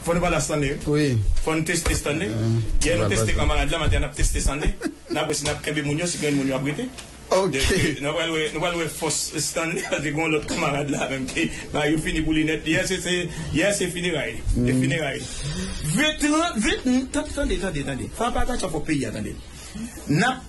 Fò nou pala Stanley wi Fò nou teste Stanley Yè nou teste kan malad la maten an nap teste Stanley Nap wè si nap kenbe moun yo si gen moun yo ap rete Nou pral wè nou pral wè fòs Stanley Paske gon lòt kanmarad la menm ki bagay yo fini pou li nèt Yè se Yè se fineray li fineray Vin 30 vin Tande tande tande San patatcha pou peyi a tande Nap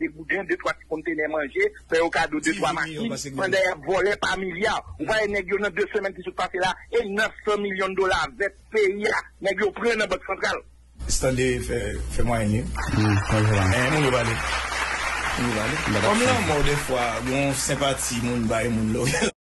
Degouden, de twa ti kontenè manje, fè yo kado de twa machin, pandan y ap vòlè pa milya. Ou pa wè nèg yo nan de semèn ki sot pase la, e 900 milyon dola vèt peyi a, nèg yo pran nan bank santral. Stande fè mwayen li. Eeh moun yo pale. Kòm lanmò dèfwa gon senpati moun bay moun lò.